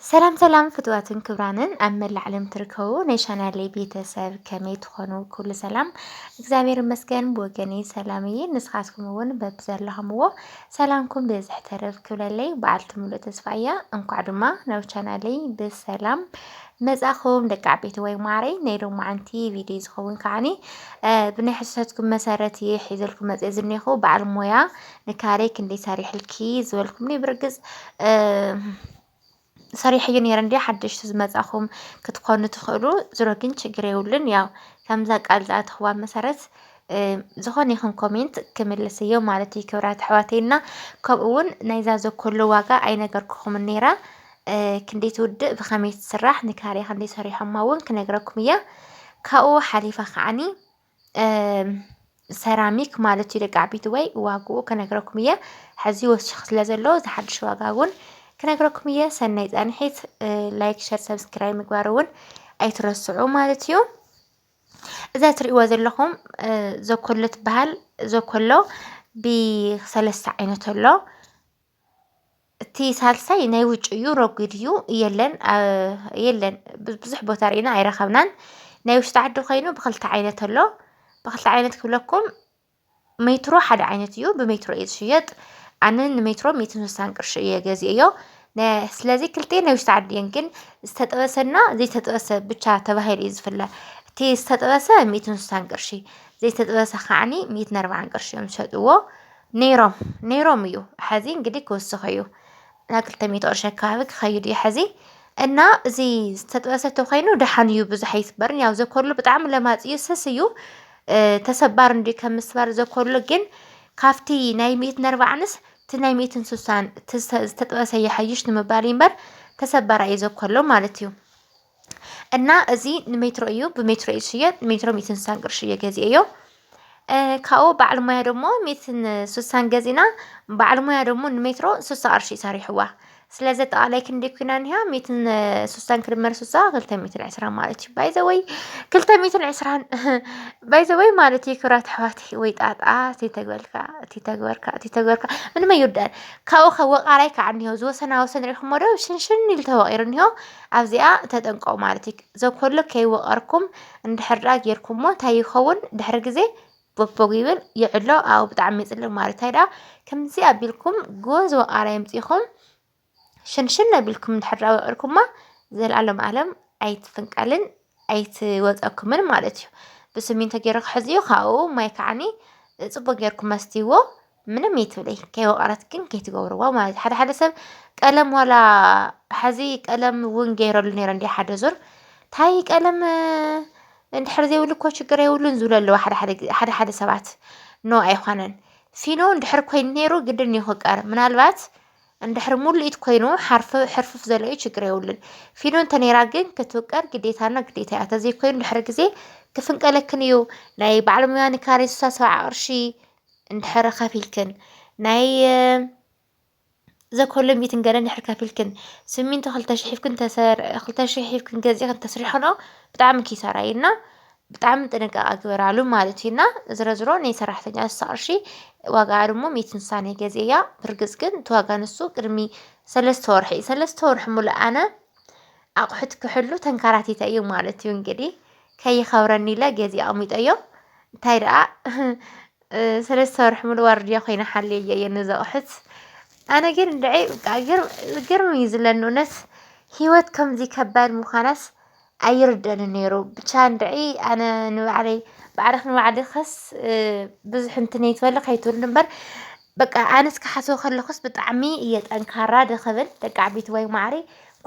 ሰላም ሰላም ፍትዋትን ክብራንን ኣብ መላእ ዓለም ትርከቡ ናይ ቻናለይ ቤተሰብ ከመይ ትኾኑ? ኩሉ ሰላም እግዚኣብሔር ይመስገን ብወገነይ ሰላም እየ። ንስኻትኩም እውን በብዘለኹምዎ ሰላምኩም ብዝሕ ተረፍ ክብለለይ በዓልቲ ሙሉእ ተስፋ እያ። እንኳዕ ድማ ናብ ቻናለይ ብሰላም መጻኹም ደቂ ዓበይቲ ወይ ማዕረይ ናይ ሎማዓንቲ ቪድዮ ዝኸውን ከዓኒ ብናይ ሕሰትኩም መሰረት እየ ሒዘልኩም መፅእ ዝኒኹ በዓል ሞያ ንካሌ ክንደይ ሰሪሕልኪ ዝበልኩምኒ ብርግፅ ሰሪሐዮ ነይረ እንዲ ሓደሽቲ ዝመፃኹም ክትኮኑ ትኽእሉ ዝሮ ግን ችግር የብሉን ያው ከምዛ ቃል ዝኣተኽዋ መሰረት ዝኾነ ይኹን ኮሜንት ክምልስ እዮ ማለት እዩ ክብራት ኣሕዋተይ እና ከምኡ እውን ናይዛ ዘኮሎ ዋጋ ኣይነገርኩኹም ነይራ ክንደይ ትውድእ ብኸመይ ትስራሕ ንካርያ ክንደይ ሰሪሖማ እውን ክነግረኩም እያ ካብኡ ሓሊፋ ከዓኒ ሰራሚክ ማለት እዩ ደቂ ዓበይቲ ወይ ዋግኡ ክነግረኩም እየ ሕዚ ወሲኹ ስለ ዘሎ እዚ ሓድሽ ዋጋ እውን ክነግረኩም እየ ሰናይ ፃንሒት ላይክ ሸር ሰብስክራይብ ምግባር እውን ኣይትረስዑ ማለት እዩ እዛ ትሪእዎ ዘለኹም ዘኮሎ ትበሃል ዘኮሎ ብሰለስተ ዓይነት ኣሎ እቲ ሳልሳይ ናይ ውጭ እዩ ረጒድ እዩ የለን የለን ብዙሕ ቦታ ርኢና ኣይረኸብናን ናይ ውሽጢ ዓዲ ኾይኑ ብኽልተ ዓይነት ኣሎ ብኽልተ ዓይነት ክብለኩም ሜትሮ ሓደ ዓይነት እዩ ብሜትሮ እዩ ዝሽየጥ ኣነ ንሜትሮ ሚእትን ስሳን ቅርሺ እየ ገዚኤዮ ስለዚ ክልቲኤን ናይ ውሽጢ ዓዲ እየን ግን ዝተጠበሰና ዘይተጠበሰ ብቻ ተባሂሉ እዩ ዝፍለ እቲ ዝተጠበሰ ሚእትን ስሳን ቅርሺ ዘይተጠበሰ ከዓኒ ሚእትን ኣርብዓን ቅርሺ እዮም ዝሸጥዎ። ነይሮም ነይሮም እዩ ሐዚ እንግዲህ ክውስኽ እዩ ናብ ክልተ ሚእቲ ቅርሺ ኣካባቢ ክኸይድ እዩ ሐዚ እና እዚ ዝተጥበሰ ተኮይኑ ደሓን እዩ ብዙሕ ኣይስበርን ያው ዘኮሉ ብጣዕሚ ለማፅ እዩ ስስ እዩ ተሰባር እንዲዩ ከም ምስባር ዘኮሉ ግን ካብቲ ናይ ሚእትን ኣርባዕንስ እቲ ናይ ሚእትን ስሳን ዝተጥበሰ ይሓይሽ ንምባል እምበር ተሰባር እዩ ዘኮሎ ማለት እዩ እና እዚ ንሜትሮ እዩ ብሜትሮ እዩ ዝሽየጥ ሜትሮ ሚእትን ስሳን ቅርሺ እየ ገዚኤዮ። ካብኡ በዓል ሞያ ደሞ ሚእትን ስሳን ገዚእና በዓል ሞያ ደሞ ንሜትሮ ስሳ ቅርሺ እዩ ሰሪሕዋ። ስለዚ ኣጠቓላይ ክንደይ ኮይና እኒሃ ሚእትን ስሳን ክድመር ስሳ ክልተ ሚእትን ዕስራን ማለት እዩ። ባይ ዘ ወይ ክልተ ሚእትን ዕስራን ባይ ዘ ወይ ማለት እዩ ክብራት ኣሕዋተይ ወይ ጣጣ እቲ ተግበልካ እቲ ተግበርካ እቲ ተግበርካ ምንም ኣይውዳእን። ካብኡ ከ ወቓራይ ከዓ እኒሆ ዝወሰና ወሰን ርኢኹሞ ዶ ሽንሽን ኢሉ ተወቒሩ እኒሆ። ኣብዚኣ ተጠንቀቁ ማለት እዩ ዘኮሎ ከይወቀርኩም እንድሕር ድኣ ጌርኩሞ እንታይ ይኸውን ድሕሪ ግዜ ቦግቦግ ይብል ይዕሎ ኣብኡ ብጣዕሚ ይጽልም ማለት እንታይ ድኣ ከምዚ ኣቢልኩም ጎዝ ወቃር ኣምጺኹም ሽንሽን ኣቢልኩም እንድሕር ድኣ ወቂርኩማ ዘልኣለም ኣለም ኣይትፍንቀልን ኣይትወጸኩምን ማለት እዩ ብስሚንቶ ጌሩ ክሕዝዮ ካብኡ ማይ ከዓኒ ጽቡቅ ጌርኩም መስትይዎ ምንም ይትብለይ ከይወቀረት ግን ከይትገብርዋ ማለት ሓደ ሓደ ሰብ ቀለም ዋላ ሐዚ ቀለም እውን ገይረሉ ነይረ እንዲ ሓደ ዙር ታይ ቀለም እንድሕር ዘይብሉ እኮ ችግር የብሉን ዝብሉ ኣለዉ ሓደ ሓደ ሰባት ኖ ኣይኮነን ፊኖ እንድሕር ኮይኑ ነይሩ ግድን እዩ ክቀር ምናልባት እንድሕር ሙሉኢት ኮይኑ ሕርፍፍ ዘሎ እዩ ችግር የብሉን ፊኖ እንተነይራ ግን ክትውቀር ግዴታና ግዴታ እያ ተዘይኮይኑ ድሕሪ ግዜ ክፍንቀለክን እዩ ናይ በዓል ሙያ ንካሬ ስሳ ሰብዓ ቅርሺ እንድሕር ከፊልክን ናይ ዘኮሎ ሚትን ገለ እንድሕር ከፊልክን ስሚንቶ ክልተ ሽሕ ሂብክን ተሰር ክልተ ሽሕ ሂብክን ገዚእክን ተስርሕክንኦ ብጣዕሚ ኪሳራ እዩ እና ብጣዕሚ ጥንቃቐ ግበራሉ ማለት እዩ እና ዝረዝሮ ናይ ሰራሕተኛ ንሳ ቅርሺ ዋጋ ድማ ሚእቲ ንሳን እየ ገዚኤያ ብርግፅ ግን እቲ ዋጋ ንሱ ቅድሚ ሰለስተ ወርሒ እዩ ሰለስተ ወርሒ ሙሉእ ኣነ ኣቑሑት ክሕሉ ተንከራቲተ እዩ ማለት እዩ እንግዲህ ከይኸብረኒ ኢለ ገዜ ኣቕሚጠዮ እንታይ ደኣ ስለ ዝሰርሕምሉ ዋርድያ ኮይነ ሓልየዮ እየ ነዚ ኣቑሑት ኣነ ግን እንድዒ ብቃ ግርም እዩ ዝለኒ እውነት ሂወት ከምዚ ከባድ ምዃናስ ኣይርደንን ነይሩ ብቻ እንድዒ ኣነ ንባዕለይ ባዕልኺ ንባዕልኽስ ብዙሕ እንትን ይትበል ከይትብሉ እምበር በቃ ኣነስ ክሓስቦ ከለኹስ ብጣዕሚ እየ ጠንካራ ድኽብል ደቂ ዓበይቲ ወይ ማዕሪ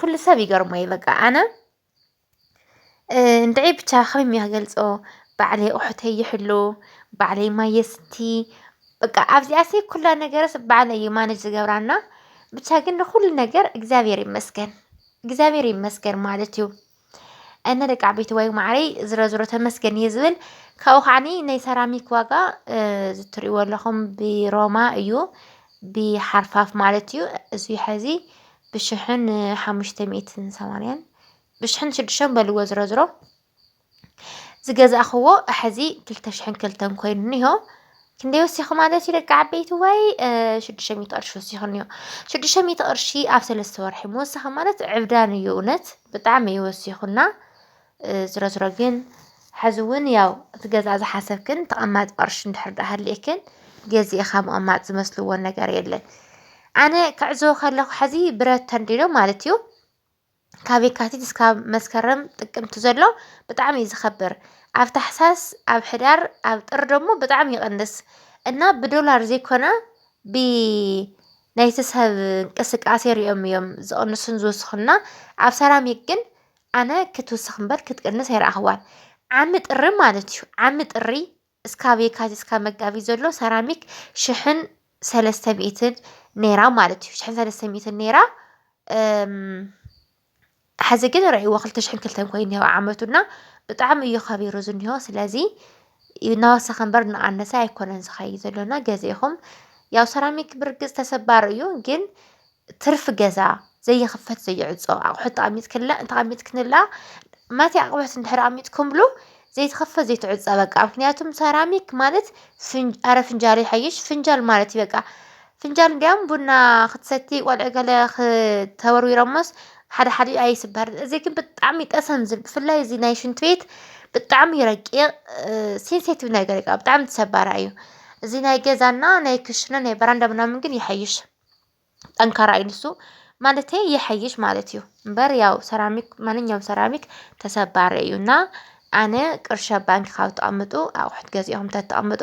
ኩሉ ሰብ ይገርሞ እዩ በቃ ኣነ እንድዒ ብቻ ከመይ ኢለ ክገልፆ ባዕለይ ኣቁሑተይ ይሕሉ ባዕለይ ማይ የስቲ በቃ ኣብዚኣሲ ኩሉ ነገረይ ባዕለይ እየ ማነጅ ዝገብራ እና ብቻ ግን ንኩሉ ነገር እግዚኣብሔር ይመስገን እግዚኣብሔር ይመስገን ማለት እዩ። እና ደቂ ዓበይተዋይ ማዓረይ ዝሮዝሮ ተመስገን እየ ዝብል ካብኡ ከዓኒ ናይ ሰራሚክ ዋጋ እዚ እትሪእዎ ዘለኩም ብሮማ እዩ ብሓርፋፍ ማለት እዩ እዚ ሐዚ ብሽሕን ሓሙሽተ ሚእትን ሰማንያን ብሽሕን ሽዱሽተን በልዎ ዝረዝሮ ዝገዛእኽዎ ሕዚ ክልተ ሽሕን ክልተን ኮይኑ እኒሆ ክንደይ ወሲኹ ማለት እዩ ደቂ ዓበይቲ ወይ ሽዱሽተ ሚእቲ ቅርሺ ወሲኹ እኒኦ ሽዱሽተ ሚእቲ ቅርሺ ኣብ ሰለስተ ወርሒ ምውሳኽ ማለት ዕብዳን እዩ እውነት ብጣዕሚ እዩ ወሲኹና። ዝሮዝሮ ግን ሐዚ እውን ያው እቲ ገዛ ዝሓሰብክን ተቐማጢ ቅርሺ እንድሕር ዳኣ ሃሊእክን ገዚእኻ ምቕማጥ ዝመስልዎ ነገር የለን። ኣነ ክዕዝቦ ከለኹ ሐዚ ብረት ተንዲኖ ማለት እዩ ካብ የካቲት እስካብ መስከረም ጥቅምቲ ዘሎ ብጣዕሚ እዩ ዝኸብር ኣብ ታሕሳስ ኣብ ሕዳር ኣብ ጥር ደግሞ ብጣዕሚ ይቕንስ እና ብዶላር ዘይኮነ ብ ናይቲ ሰብ እንቅስቃሴ ሪኦም እዮም ዝቕንሱን ዝውስኹና ኣብ ሰራሚክ ግን ኣነ ክትውስኽ እምበር ክትቅንስ ኣይረኣኽዋን። ዓሚ ጥሪ ማለት እዩ። ዓሚ ጥሪ እስካብ የካቲት እስካብ መጋቢት ዘሎ ሰራሚክ ሽሕን ሰለስተ ሚእትን ነይራ ማለት እዩ። ሽሕን ሰለስተ ሚእትን ነይራ ሕዚ ግን ርእይዎ ክልተ ሽሕን ክልተን ኮይኑ እኒሆ ዓመቱና ብጣዕሚ እዩ ከቢሩ ዝኒሆ ስለዚ እናወሰኸ እምበር እናኣነሰ ኣይኮነን ዝኸይድ ዘሎና ገዚእኹም ያው ሰራሚክ ብርግፅ ተሰባሪ እዩ ግን ትርፊ ገዛ ዘይኽፈት ዘይዕፆ ኣቑሑት ተቐሚጥክላ ተቐሚጥክንላ ማትይ ኣቕሑት እንድሕር ኣሚጥኩምሉ ዘይትኽፈት ዘይትዕፆ በቃ ምኽንያቱም ሰራሚክ ማለት ፍን ኣረ ፍንጃል ይሓይሽ ፍንጃል ማለት እዩ በቃ ፍንጃል እንዲያውም ቡና ክትሰቲ ቆልዑ ገለ ተወርዊሮሞስ ሓደ ሓደ ኣይስበርን እዚ ግን ብጣዕሚ ጠሰም ዝብል ብፍላይ እዚ ናይ ሽንት ቤት ብጣዕሚ እዩ ረቂቕ ሴንሴቲቭ ነገር እዩ ብጣዕሚ ተሰባራይ እዩ እዚ ናይ ገዛና ናይ ክሽነ ናይ በራንዳ ምናምን ግን ይሓይሽ። ጠንካራ እዩ ንሱ ማለት ይሐይሽ ማለት እዩ እምበር ያው ሰራሚክ ማንኛውም ሰራሚክ ተሰባሪ እዩ እና ኣነ ቅርሺ ኣብ ባንኪ ካብ ተቐምጡ ኣቑሑት ገዚእኹም ተተቐምጡ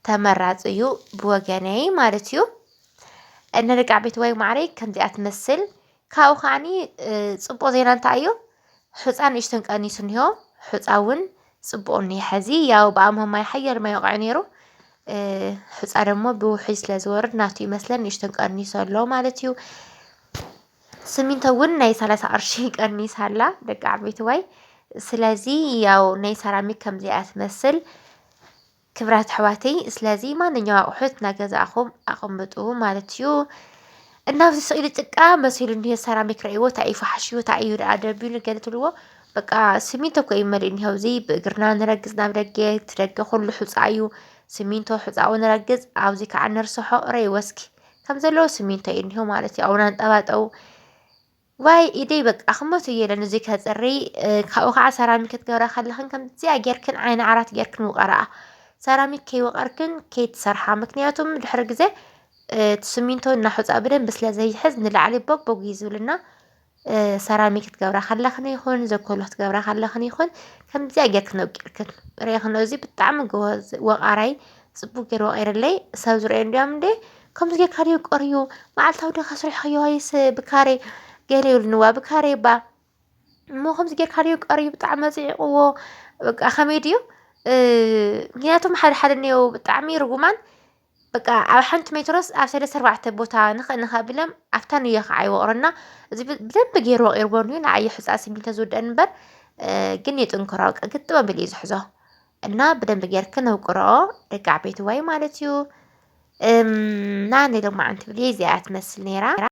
ተመራፂ እዩ ብወገነይ ማለት እዩ። እነ ደቂ ዓበይቲ ዋይ ማዓረይ ከምዚኣ ትመስል ካብኡ ከዓኒ ፅቡቕ ዜና እንታይ እዩ ሑፃ ንእሽተን ቀኒሱ እኒሆ ሑፃ እውን ፅቡቕ እኒሀ ሐዚ ያው ብኣምሆ ማይ ሓያል ማይ ወቕዒ ነይሩ ሑፃ ደግሞ ብውሕጅ ስለ ዝወርድ ናቱ ይመስለን ንእሽተን ቀኒሱ ኣሎ ማለት እዩ ስሚንቶ እውን ናይ ሰላሳ ቅርሺ ቀኒሳ ኣላ ደቂ ዓበይቲ ዋይ ስለዚ ያው ናይ ሰራሚክ ከምዚኣ ትመስል ክብራት ኣሕዋተይ ስለዚ ማንኛው ኣቑሑት ናገዛእኹም ኣቐምጡ ማለት እዩ። እና ኣብዚ ስእሊ ጭቃ መሲሉ እኒሀ ሰራሚክ ረእይዎ እንታይ እዩ ፈሓሽኡ እንታይ እዩ ደኣ ደቢሉ ገለ ትብልዎ በቃ ስሚንቶ እኮ እዩ መሊኡ እኒሀ ኣብዚ ብእግርና ንረግፅ ናብ ደገ እቲ ደገ ኩሉ ሑፃ እዩ ስሚንቶ ሑፃኡ ንረግፅ ኣብዚ ከዓ ንርሰሖ ረእይዎ እስኪ ከም ዘለዎ ስሚንቶ እዩ እኒሀ ማለት እዩ ኣብኡ ናንጠባጠቡ ዋይ ኢደይ በቃ ክመቱ እየ ኢለን እዙይ ከፅሪ ካብኡ ከዓ ሰራሚክ ክትገብራ ከለኽን ከምዚኣ ጌርክን ዓይኒ ዓራት ጌርክን ውቐረኣ ሰራሚክ ከይወቐርክን ከይትሰርሓ ምክንያቱም ድሕሪ ግዜ እቲ ስሚንቶ እናሑፃ ብደንቢ ስለ ዘይሕዝ ንላዕሊ ቦግቦግ እዩ ዝብልና ሰራሚክ ክትገብራ ከለኽን ይኹን ዘኮሎ ክትገብራ ከለኽን ይኹን ከምዚኣ ጌርክን ኣውቂርክን ርኤኽን እዚ ብጣዕሚ ጎበዝ ወቓራይ ጽቡቅ ገይሩ ወቂርለይ ሰብ ዝረኣዩ እንዲዮም እንዴ ከምዚ ጌርካ ድዩ ቀርዩ መዓልታዊ ድካ ስርሕክዮ ወይስ ብካሬ ገለ ይብሉኒ ዋ ብካሬ እባ እሞ ከምዚ ጌርካ ድዩ ቀርዩ ብጣዕሚ ኣጽዒቅዎ በቃ ከመይ ድዩ ምክንያቱም ሓደ ሓደ እኒአው ብጣዕሚ ርጉማን በቃ ኣብ ሓንቲ ሜትሮስ ኣብ ሰለስተ ኣርባዕተ ቦታ ንኽእ ንኽእ ኣቢሎም ኣብታ ንዮ ከዓ ይወቅሩ እና እዚ ብደንቢ ገይሩ ወቂርዎ እንድዩ ንዓይ እዩ ሕፃን ስሚንቶ ዝውደአኒ እምበር ግን የጥንክሮ በቃ ግጥም ኣቢሉ እዩ ዝሕዞ እና ብደንብ ጌርክ ነውቅረኦ ደቂ ዓበይቲ ዋይ ማለት እዩ እና ናይ ሎማዓንቲ ብልየ እዚኣ ትመስል ነይራ